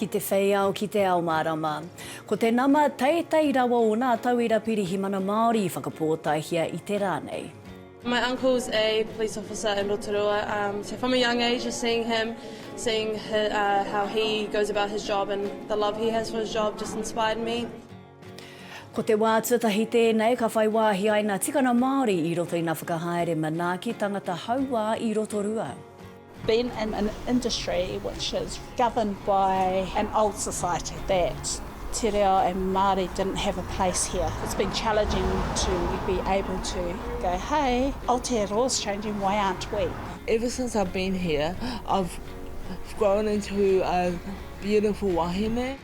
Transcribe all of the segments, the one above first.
Ki te whei ao, ki te ao mārama. Ko te nama teitei rawa o nā tauira Pirihimana Māori i whakapōtaehia i te rā nei. My uncle was a police officer in Rotorua, um, so from a young age just seeing him, seeing his, uh, how he goes about his job and the love he has for his job just inspired me. Ko te wā tuatahi tēnei ka whai wāhi ai ngā tikanga Māori i roto i ngā whakahaere manaaki tangata hauā i Rotorua. Being in an industry which is governed by an old society that te reo and Māori didn't have a place here, it's been challenging to be able to go hei, Aotearoa's changing, why aren't we? Ever since I've been here, I've grown into a beautiful wahine.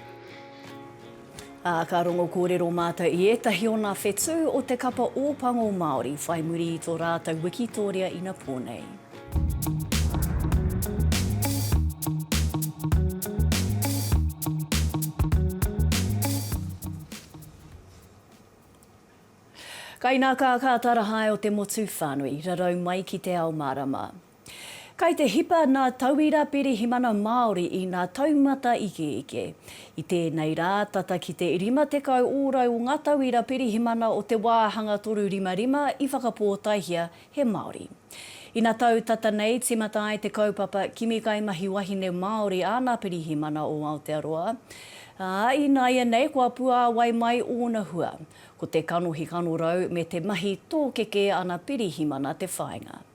Ā, ka rongo kōrero mātou i ētahi o nā whetū o te kapa Ōpango Māori whai muri i tō rātou wikitōria inapō nei. Kainakā, ka tara hae o te motu whānui, rarau mai ki te ao mārama. Kai te hipa nā tauira pirihimana Māori i nā taumata ikeike. I tēnei rā, tata ki te 50 ōrau o ngā tauira pirihimana o te wāhanga 355 i whakapōtaehia he Māori. Ina tau tata nei, tīmata ai te kaupapa Kimi Kai Mahi Wahine Māori āna pirihimana o Aotearoa, ā, ināianei kua puāwai mai ōna hua. Ko te kanohi kanorau me te mahi tōkeke ana pirihimana te whāinga.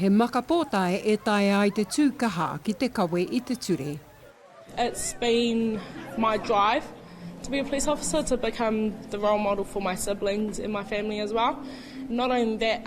He maka pōtae e taea ai te tū kaha ki te kawe i te ture. It's been my drive to be a police officer to become the role model for my siblings and my family as well. Not only that,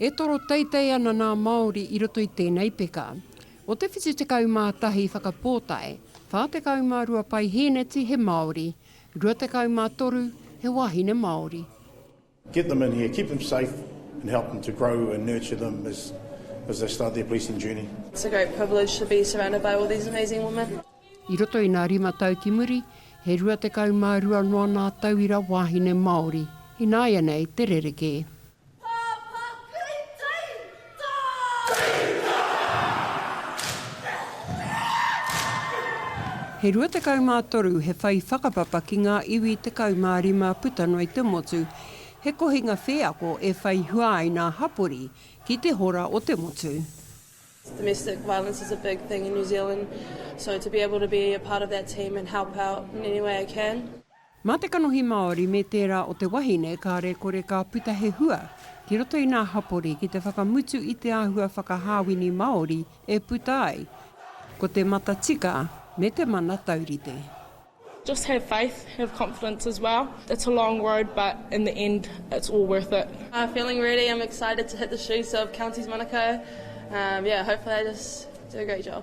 E toro teitei ana nā Māori i roto i tēnei peka. O te 71 whakapōtae, 42 paihēneti he Māori, 23 he wāhine Māori. Get them in here, keep them safe and help them to grow and nurture them as they start their policing journey. It's a great privilege to be surrounded by all these amazing women. I roto i nā rima tau ki muri, he 22 noa nā tauira wāhine Māori, ināianei te rerekē. He 23 he whai whakapapa ki ngā iwi 15 puta noa i te motu, he kohinga wheako e whai hua ai nā hapori ki te hora o te motu. Domestic violence is a big thing in New Zealand, so to be able to be a part of that team and help out in any way I can. Mā te kanohi Māori me tērā o te wahine kāre kore ka puta he hua ki roto i nā hapori ki te whakamutu i te āhua whakahāwini Māori e puta ai, ko te matatika me te mana taurite. Just have faith, have confidence as well. It's a long road but in the end it's all worth it. Feeling ready, I'm excited to hit the shoes of Counties Manukau, yeah hopefully I just do a great job.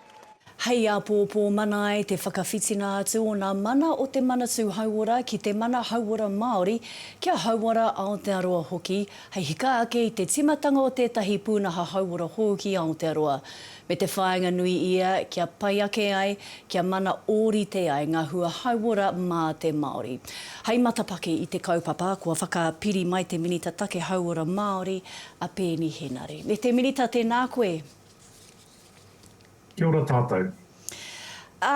Hei āpōpō mana ai te whakawhitinga atu o ngā mana o te Manatū Hauora ki te Mana Hauora Māori, kia hauora Aotearoa hoki, hei hika ake i te tīmatanga o tētahi pūnaha hauora hou ki Aotearoa, me te whāinga nui ia kia pai ake ai, kia mana ōrite ai ngā hua hauora mā te Māori. Hei matapaki i te kaupapa, kua whakapiri mai te Minita Take Hauora Māori, a Peeni Henare. Me te Minita, tēnā koe. Kia ora tātou. Ā,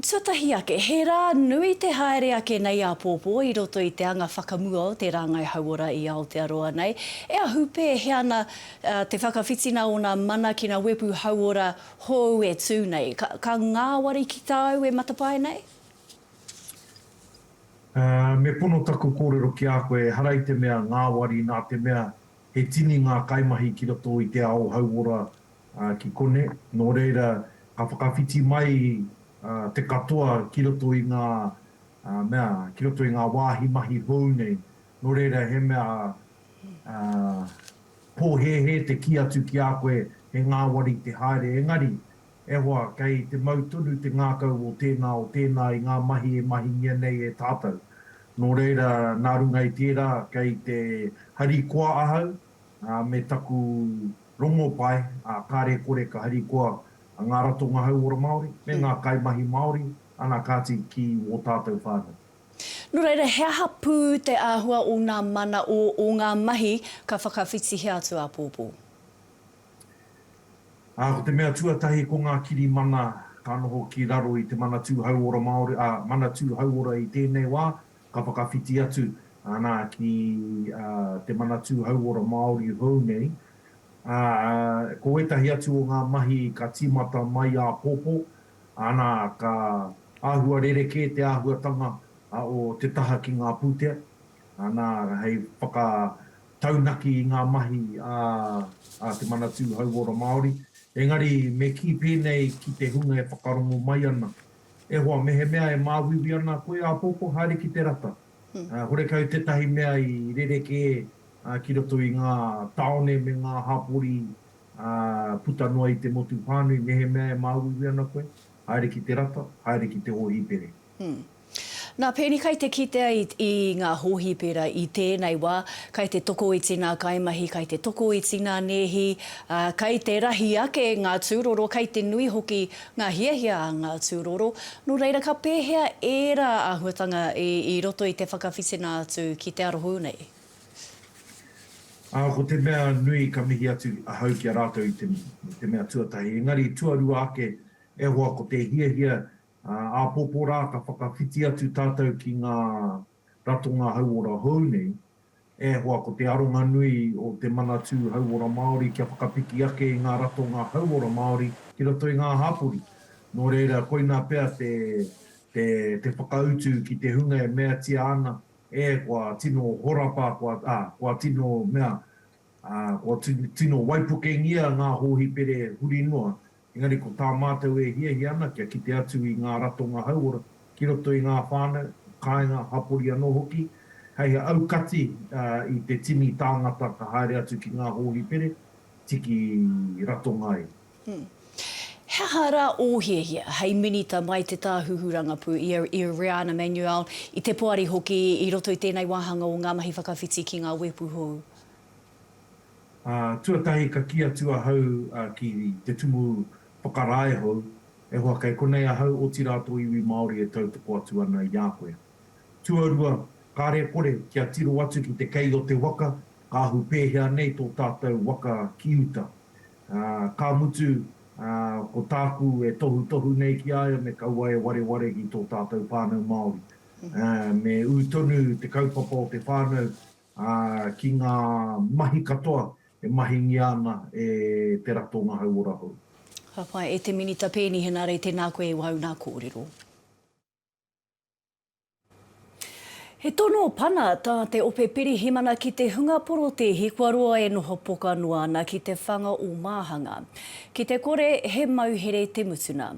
tuatahi ake, he rā nui te haere ake nei āpōpō i roto i te anga whakamua o te rāngai hauora i Aotearoa nei, e ahu pēhea ana te whakawhitina o nā mana ki nā wepu hauora hou e tū nei. Ka, ka ngāwari ki tāu e matapae nei? Ā, me pono taku kōrero ki a koe, ehara i te mea ngāwari nā te mea he tini ngā kaimahi ki roto i te ao hauora ki konei, nō reira ka whakawhiti mai te katoa ki roto i ngā mea, ki roto i ngā wāhi mahi hou nei, nō reira he mea pōhēhē te kī atu ki a koe he ngāwari te haere engari, e hoa, kei te mau tonu te ngākau o tēnā, o tēnā i ngā mahi e mahingia nei e tātou. Nō reira, nā runga i tērā, kei te harikoa ahau, me taku rongopai, ā, kāre kore ka harikoa ngā ratonga hauora Māori me ngā kaimahi Māori, ana kāti ki wō tātou whānau. Nō reira, he aha pū te āhua o ngā mana, o, o ngā mahi ka whakawhitihia atu āpōpō? Ā, ko te mea tuatahi ko ngā kirimana ka noho ki raro i te Manatū Hauora Māori, ā, Manatū Hauora i tēnei wā, Ka whakawhiti atu ana ki te Manatū Hauora Māori hou nei. Ko ētahi atu o ngā mahi ka tīmata mai āpōpō, ana, ka āhua rerekē te āhuatanga o te taha ki ngā pūtea, ana, hei whakataunaki i ngā mahi a te Manatū Hauora Māori. Engari, me kī pēnei ki te hunga e whakarongo mai ana, E hoa, mehemea e māuiui ana koe āpōpō haere ki te rata, horekau tētahi mea i rerekē ki roto i ngā tāone me ngā hapori puta noa i te motu whānui, mehemea e māuiui ana koe, haere ki te rata, haere ki te hōhipere. Nā Peni kai te kitea i ngā hōhipera i tēnei wā, kai te tokoiti ngā kaimahi, kai te tokoiti ngā nēhi, kai te rahi ake ngā tūroro, kai te nui hoki ngā hiahia a ngā tūroro, nō reira ka pēhea ērā āhuatanga i roto i te whakawhitinga atu ki te arohū nei? Ā, ko te mea nui ka mihi atu ahau ki a rātou i te mihi, i te mea tuatahi, engari tuarua ake, e hoa ko te hiahia, ā, āpōpō rā ka whakawhiti atu tātou ki ngā ratonga hauora hou nei, e hoa ko te aronga nui o Te Manatū Hauora Māori kia whakapiki ake i ngā ratonga hauora Māori ki roto i ngā hapori. Nō reira, koinā pea te, te, te whakautu ki te hunga e meatia ana, ē, kua tino horapa, kua, ā, kua tino mea, ā, kua tino waipukengia ngā hōhipere huri noa, Engari ko tā mātou e hiahia ana kia kite atu i ngā ratonga hauora ki roto i ngā whānau, kāinga, hapori anō hoki, hei aukati i te tini tāngata ka haere atu ki ngā hōhipere, tiki ratonga ai. He aha rā ō hiahia hei Minita mai te Tāhuhu Rangapū i a Iriana Manuel, i te Poari hoki, i roto i tēnei wāhanga o ngā mahi whakawhiti ki ngā wēpu hou? Ā, tuatahi ka kī atu ahau ki te tumu whakarae hou, E hoa, kei konei ahau, otirā tō iwi Māori e tautoko atu ana i a koe. Tuarua, kāre kore, kia tiro atu ki te kei o te waka, ka ahu pēhea nei tō tātou waka ki uta. Ā, ka mutu, ā, ko tāku e tohutohu nei ki a ia me kaua e wareware ki tō tātou whānau Māori. Ā, me ū tonu te kaupapa o te whānau, ā, ki ngā mahi katoa e mahingia ana e te ratonga hauora hou. Ka pai e te Minita Peeni Henare tēnā koe e wau nā kōrero. He tono pana tā te Ope Pirihimana ki te hunga porotēhi kua roa e noho poka noa ana ki te whanga o Māhanga. Ki te kore, he mauhere te mutuna.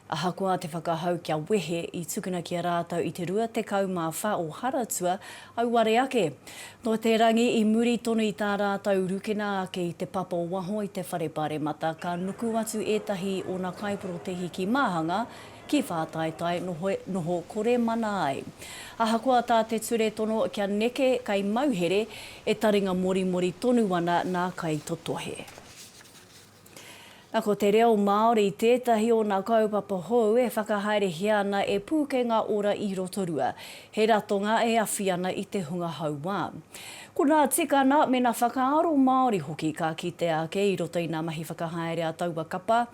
Ahakoa te whakahau kia wehe, i tukuna ki a rātou i te 24 o Haratua, auare ake. Nō te rangi, i muri tonu i tā rātou rukena ake i te papa o waho i te whare paremata, ka nuku atu ētahi i ōna kaiporotēhi ki Māhanga, ki Whātaitai, noho, noho kore mana ai. Ahakoa tā te ture tono kia neke kei mauhere, e taringa morimori tonu ana nā Kaitotohe. Ko te reo Māori tētahi o nā kaupapa hou e whakahaerehia ana e Pūkenga Ora i Rotorua. He ratonga e awhi ana i te hunga hauā. Ko nā tikana me nā whakaaro Māori hoki ka kitea ake i roto i nā mahi whakahaere a taua kapa.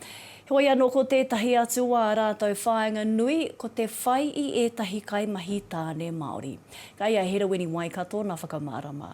Heoi anō ko tētahi atu o ā rātou whāinga nui ko te whai i ētahi kaimahi tāne Māori. Kei a Herowini Waikato nā whakamārama.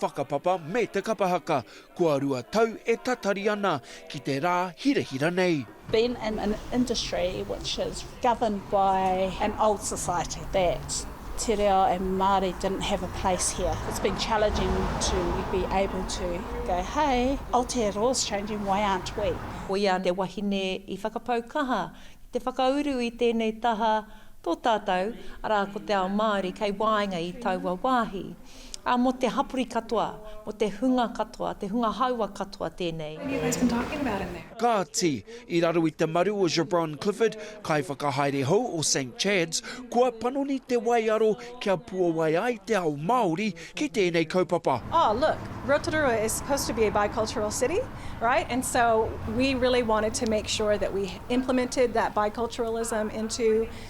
Whakapapa me te kapa haka, kua rua tau e tatari ana ki te rā hirahira nei. Being in an industry which is governed by an old society that te reo and Māori didn't have a place here, it's been challenging to be able to go, hey, Aotearoa's changing, why aren't we? Ko ia te wahine i whakapau kaha ki te whakauru i tēnei taha tō tātou, arā, ko te ao Māori kei waenga i taua wāhi. ā, mō te hapori katoa, mō te hunga katoa, te hunga haua katoa tēnei. Kāti, i raro i te maru o Jabron Clifford, kaiwhakahaere hou o Saint Chad's, kua panoni te waiaro kia puawai ai te ao Māori ki tēnei kaupapa. Oh look, Rotorua is supposed to be a bicultural city, right? And so we really wanted to make sure that we implemented that biculturalism into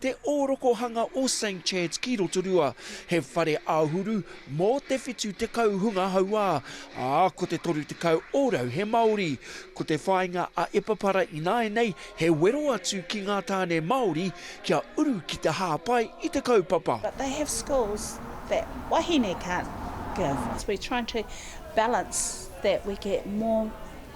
Te ōrokohanga o St Chad's ki Rotorua, he whare āhuru mō te 70 hunga hauā, ā, ko te 30 ōrau he Māori. Ko te whāinga a Epapara ināianei he wero atu ki ngā tāne Māori kia uru ki te hāpai i te kaupapa. But they have skills that wahine can't give. We trying to balance that we get more.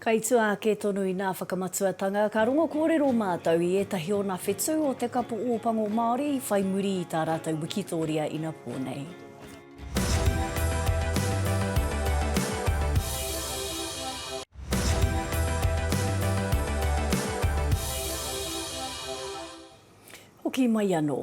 Kai tua ake tonu i nā whakamatuatanga, ka rongo kōrero mātou i ētahi ōna whetū o te kapo Ōpango Māori i whai muri i tā rātou wikitōria inapō nei. Hoki mai anō.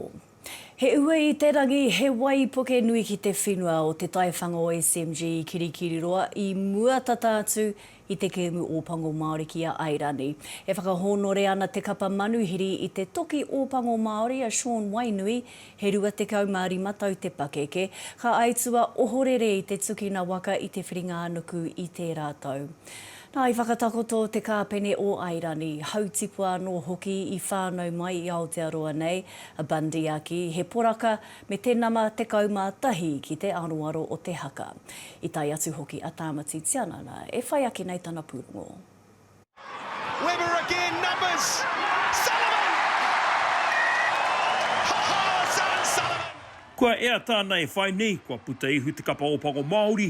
He uei i te rangi, he waipuke nui ki te whenua o te taiwhanga o SMG i Kirikiriroa i mua tata atu i te kēmu Ōpango Māori ki a Airani. E whakahōnore ana te kapa manuhiri i te toki Ōpango Māori a Shaun Wainui, he 25 tau te pakeke, ka aitua ohorere i te tukina waka i Te Whiringa-a-nuku i tērā tau. Nā, i whakatakoto te kāpene o Airani, hautipua anō hoki i whānau mai i Aotearoa nei, a Bundy a kī, he poraka me te nama 11 ki te aroaro o te haka. I tae atu hoki a Tāmati Tianana, e whai ake nei tana pūrongo. Webber again, numbers! Sullivan! Ha ha, Zan Sullivan! Kua ea tāna e whai nei, kua puta ihu te kapa Ōpango Māori,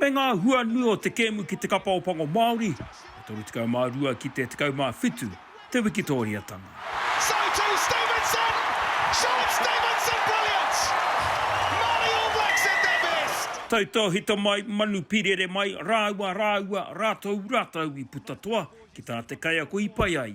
me ngā hua nui o te kēmu ki te kapa o Pango Māori, e 32 ki te 17 te wikitōriatanga. Tautōhito mai, manu pirere mai, rāua, rāua, rātou, rātou i puta toa ki tā te kaiako i pai ai.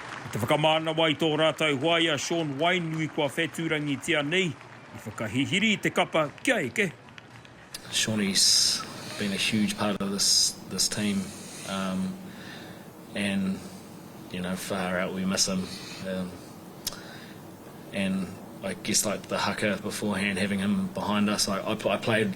Ki te whakamānawa i tō rātou hoa i a Shaun Wainui kua whetūrangitia nei, i whakahihiri i te kapa kia eke. Shaunie's been a huge part of this this team um and you know far out we miss him um and I guess like the haka beforehand having him behind us I I played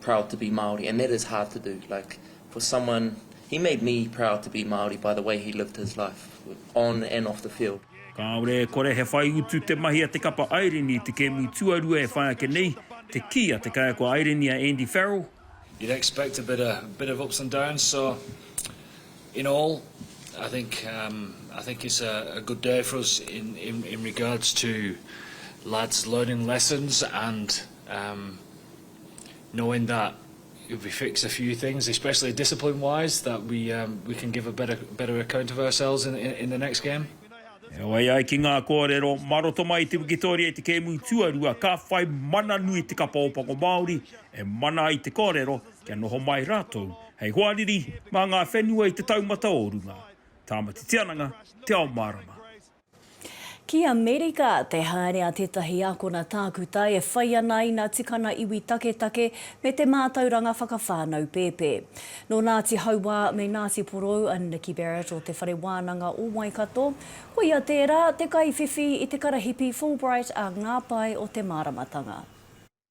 proud to be Māori and that is hard to do like for someone he made me proud to be Māori by the way he lived his life on and off the field. Kāore e kore he whai utu te mahi a te kapa Airini i te kēmu tuarua e whai ake nei, te kī a te kaiako Airini a Andy Farrell. You'd expect a bit of bit of ups and downs so in all I think um I think it's a a good day for us in in in regards to lads learning lessons and um knowing that if we fix a few things, especially discipline wise, that we um, we can give a better better account of ourselves in, in, in the next game. Heoi ai ki ngā kōrero, mā roto mai i te wikitoria i te kēmu tuarua, ka whai mana nui te kapa ōpako Māori e mana ai te kōrero kia noho mai rātou hei hoariri mā ngā whenua i te taumata o runga. Tāmati Tiananga, Te Ao Mārama. Ki Amerika, te haere a tētahi ākona tākuta e whai ana ina tukana iwi taketake me te mātauranga whakawhānau pēpē. Nō Nāti Hauā me Nāti Porou a Nikki Barrett o Te Whare Wānanga o Waikato, ko ia tērā te kaiwhiwhi i te karahipi Fulbright a Ngā Pae o te Māramatanga.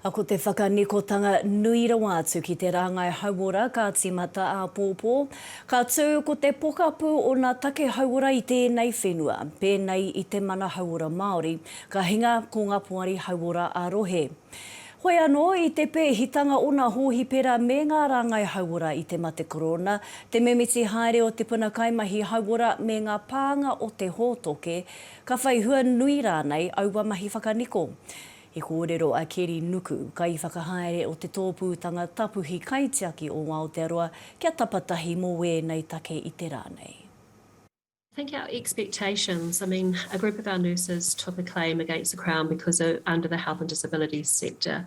Ko te whakanikotanga nui rawa atu ki te rāngai hauora ka tīmata āpōpō. Ka tū ko te pokapū o ngā take hauora i tēnei whenua, pēnei i te Mana Hauora Māori, ka hinga ko ngā poari hauora ā-rohe. Hoi anō, i te pēhitanga o ngā hōhipera me ngā rāngai hauora i te mate korona, te mimiti haere o te puna kaimahi hauora me ngā pānga o te hōtoke, Ka whai hua nui rānei aua mahi whakaniko? I kōrero a Keri Nuku, Kaiwhakahaere o Te Tōpūtanga Tapuhi Kaitiaki o Aotearoa kia tapatahi mō wēnei take i te rā nei. I think our expectations, I mean a group of our nurses took a claim against the Crown because under the health and disabilities sector,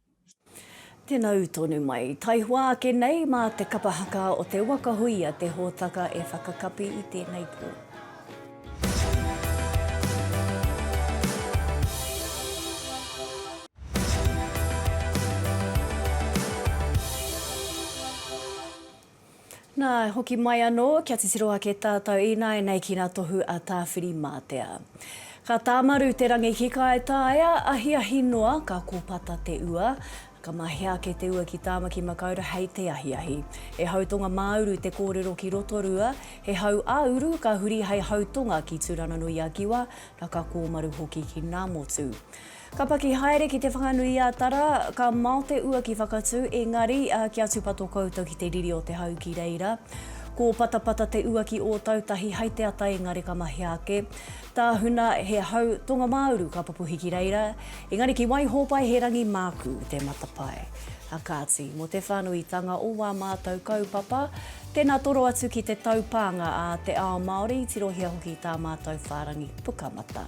Tena u tonu mai. Taihoa ake nei ma te kapa haka o te waka hui a te hotaka e whakakapi i tenei po. Nā, e hoki mai anō, kia titiro ake tātou ināianei ki ngā tohu a Tāwhirimātea. Ka tāmaru te rangi ki Kaitaia, ahiahi noa, ka kōpata te ua, ka mahea ake te ua ki Tāmaki Makaurau hei te ahiahi. He hau tonga māuru te kōrero ki Rotorua, he hau ā-uru ka huri hei hau tonga ki Tūranganui-a-Kiwa, na ka kōmaru hoki ki Ngāmotu. Ka paki haere ki Te Whanganui-a-Tara, ka mao te ua ki Whakatū, engari, kia tūpato koutou ki te riri o te hau ki reira. Ko Patapata te ua ki Ōtautahi hai te ata engari ka mahea ake. Tāhuna he hau tonga-mā-uru ka pupuhi ki reira, engari ki Waihōpai he rangi mākū te matapae. Kāti, mō te whānuitanga o wā mātau kaupapa, tēnā toro atu ki te taupānga a te ao Māori, tirohia hoki tā mātau whārangi pukamata.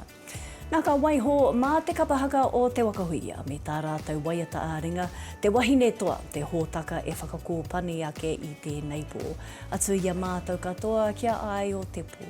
Nā, ka waiho mā te kapa haka o Te Wakahuia me tā rātou waiata ā-ringa, te wahine toa, te hōtaka e whakakōpani ake i tēnei pō. Atu i a mātou katoa kia ai o te pō.